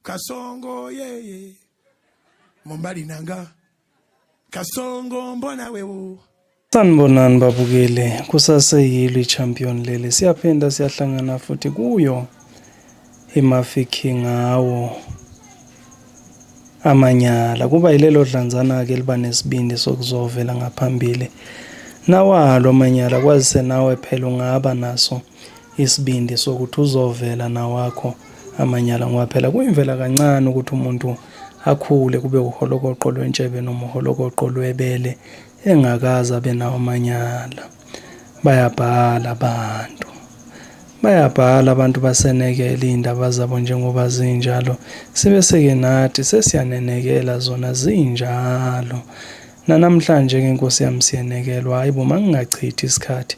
kasongo yeye mombali nanga kasongo mbona wewo sanibonani babukele kusaseyilo i-champion lele siyaphinda siyahlangana futhi kuyo imafiki ngawo amanyala kuba yilelo dlanzana-ke liba nesibindi sokuzovela ngaphambili nawalo amanyala kwazise nawe phela ungaba naso isibindi sokuthi uzovela nawakho amanyala ngoba phela kuyimvela kancane ukuthi umuntu akhule kube uholokoqo lwentshebe noma uholokoqo lwebele engakaze abe nawo amanyala bayabhala abantu bayabhala abantu basenekela iy'ndaba zabo njengoba zinjalo sibeseke nathi sesiyanenekela zona zinjalo nanamhlanje-ke nkosi yami siyenekelwa hhayi bo mangingachithi isikhathi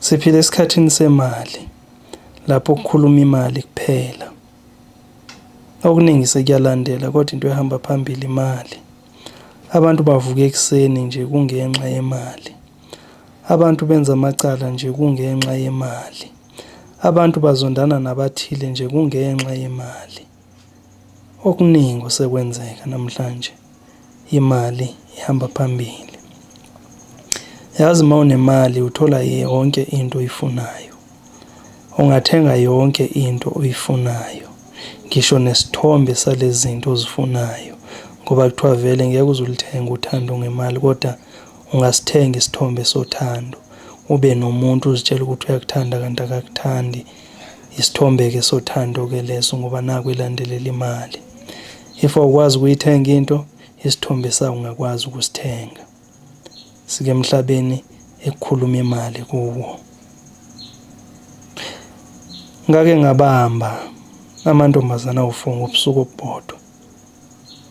Siphila esikhathini semali lapho kukhuluma imali kuphela. Okuningi sekuyalandela kodwa into ehamba phambili imali. Abantu bavuka ekuseni nje kungenxa yemali. Abantu benza amacala nje kungenxa yemali. Abantu bazondana nabathile nje kungenxa yemali. Okuningi osekwenzeka namhlanje imali ihamba phambili. Yazi uma unemali uthola yonke into oyifunayo. Ungathenga yonke into oyifunayo ngisho nesithombe salezi zinto ozifunayo ngoba kuthiwa vele ngeke uze ulithenge uthando ngemali kodwa ungasithenga isithombe sothando ube nomuntu uzitshela ukuthi uyakuthanda kanti akakuthandi Isithombe-ke sothando-ke leso ngoba naku ilandelela imali. If awukwazi ukuyithenga into, isithombe sayo ungakwazi ukusithenga. Sike emhlabeni ekukhuluma imali kuwo. Ngake ngabamba amantombazana awufunga ubusuku obubodwa.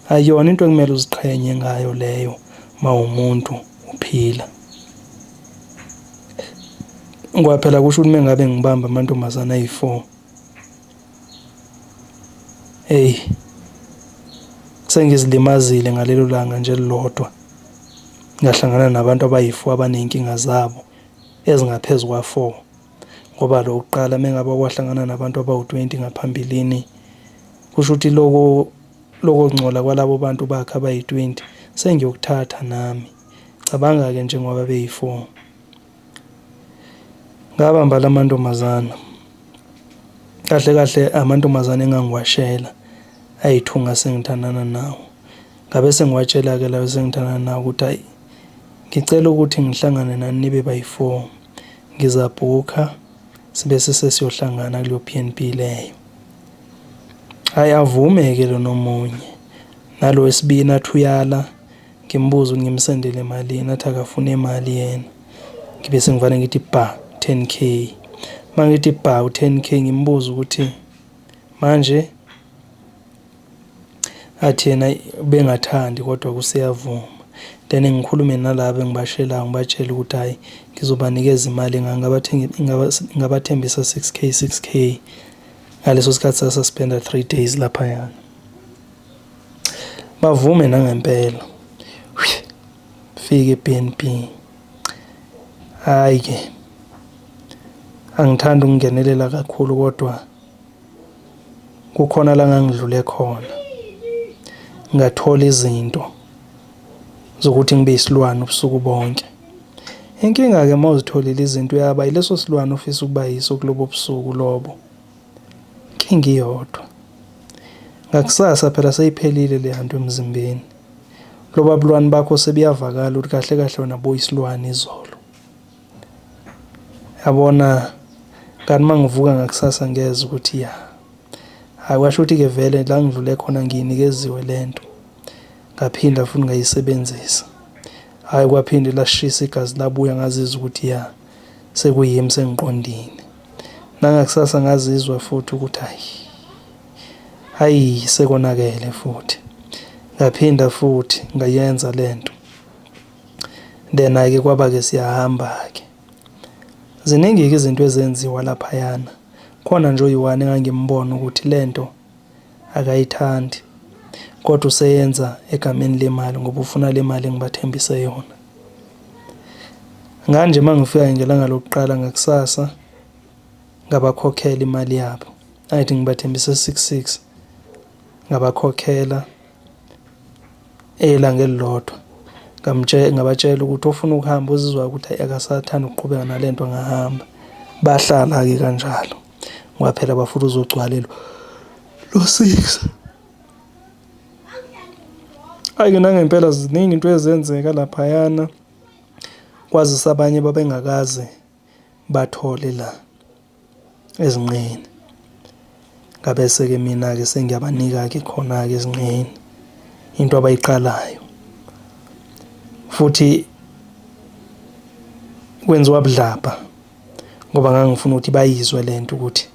Ayona into ekumele uziqhenye ngayo leyo mawumuntu uphila. Ngoba phela kusho ukuthi mengabe ngibamba amantombazana ayi-four. Eyi sengizilimazile ngalelo langa nje elilodwa ngahlangana nabantu abayi-four abaney'nkinga zabo ezingaphezu kwa-four. ngoba lo wokuqala mengabe wahlangana nabantu abawu-20 ngaphambilini kusho ukuthi loko loko ngcola kwalabo bantu bakhe abayi-20 sengiyokuthatha nami cabanga-ke nje ngoba beyi-4 ngabamba la mantombazana kahle kahle amantombazane engangiwashela ayithunga sengithandana nawo ngabe sengiwatshela-ke lawo sengithandana nawo ukuthi ayi ngicela ukuthi ngihlangane nani nibe bayi-4 ngizabhukha sibe sesesiyohlangana kuleyo BNB leyo hayi avume-ke lona omunye nalo wesibini athi uyala ngimbuza ukuthi ngimsendele malini athi akafune imali yena ngibe sengivane ngithi bha 10 k mangithi bha u-10 k ngimbuza ukuthi manje athi yena bengathandi kodwa kuseyavuma then ngikhulume nalaba engibashelayo ngibatshele ukuthi hhayi ngizobanikeza imali ngabathembisa 6 k 6 k ngaleso sikhathi sasuspenda 3 days laphayana bavume nangempela fike eBNB hhayi-ke angithandi ukungenelela kakhulu kodwa kukhona la ngangidlule khona ngathola izinto zokuthi ngibe isilwane ubusuku bonke inkinga-ke uma uzitholile izinto uyaba yileso silwane ofisa ukuba yiso kulobo busuku lobo inkinga iyodwa ngakusasa phela seyiphelile le hantu emzimbeni loba bulwane bakho sebuyavakala ukuthi kahle kahle wena boyisilwane izolo yabona kanti uma ngivuka ngakusasa ngeza ukuthi ya hhayi kwasho ukuthi-ke vele la ngidlule khona ngiyinikeziwe le nto ngaphinda futhi ngayisebenzisa hhayi kwaphinde lashisa igazi labuya ngazizwa ukuthi ya sekuyimi sengiqondile nangakusasa ngazizwa futhi ukuthi hayi hayi sekonakele futhi ngaphinda futhi ngayenza le nto Then ke kwaba ke siyahamba ke ziningi ke izinto ezenziwa laphayana khona nje oyiwani engangimbona ukuthi lento akayithandi kodwa useyenza egameni lemali ngoba ufuna le mali engibathembise yona nganje uma ngifika ngelanga lokuqala ngakusasa ngabakhokhela imali yabo ayithi ngibathembise 66 ngabakhokhela Elanga elilodwa ngabatshela ukuthi ofuna ukuhamba uzizwa ukuthi akasathandi ukuqhubeka nale nto angahamba. Bahlala-ke kanjalo ngoba phela bafuna uzogcwale lo sisi. Hhayi-ke nangempela ziningi into ezenzeka laphayana kwazise abanye babengakaze bathole la. ezinqeni ngabese ke mina ke sengiyabanika ke khona ke ezinqeni into abayiqalayo futhi kwenziwa budlabha ngoba ngangifuna ukuthi bayizwe lento ukuthi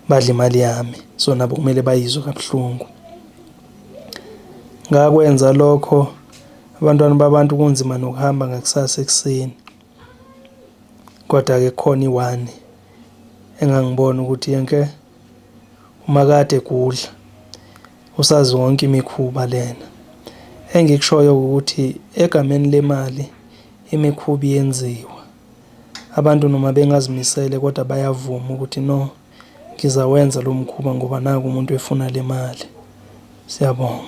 badla imali yami so nabo kumele bayizwe kabuhlungu ngakwenza lokho abantwana babantu kunzima nokuhamba ngakusasa ekuseni Kodwa-ke kukhona iwani engangibona ukuthi yenke umakade kudla usazi wonke imikhuba lena engikushoyo ukuthi egameni lemali imikhuba yenziwa abantu noma bengazimisele kodwa bayavuma ukuthi no ngizawenza lo mkhuba ngoba naku umuntu efuna le mali. Siyabonga.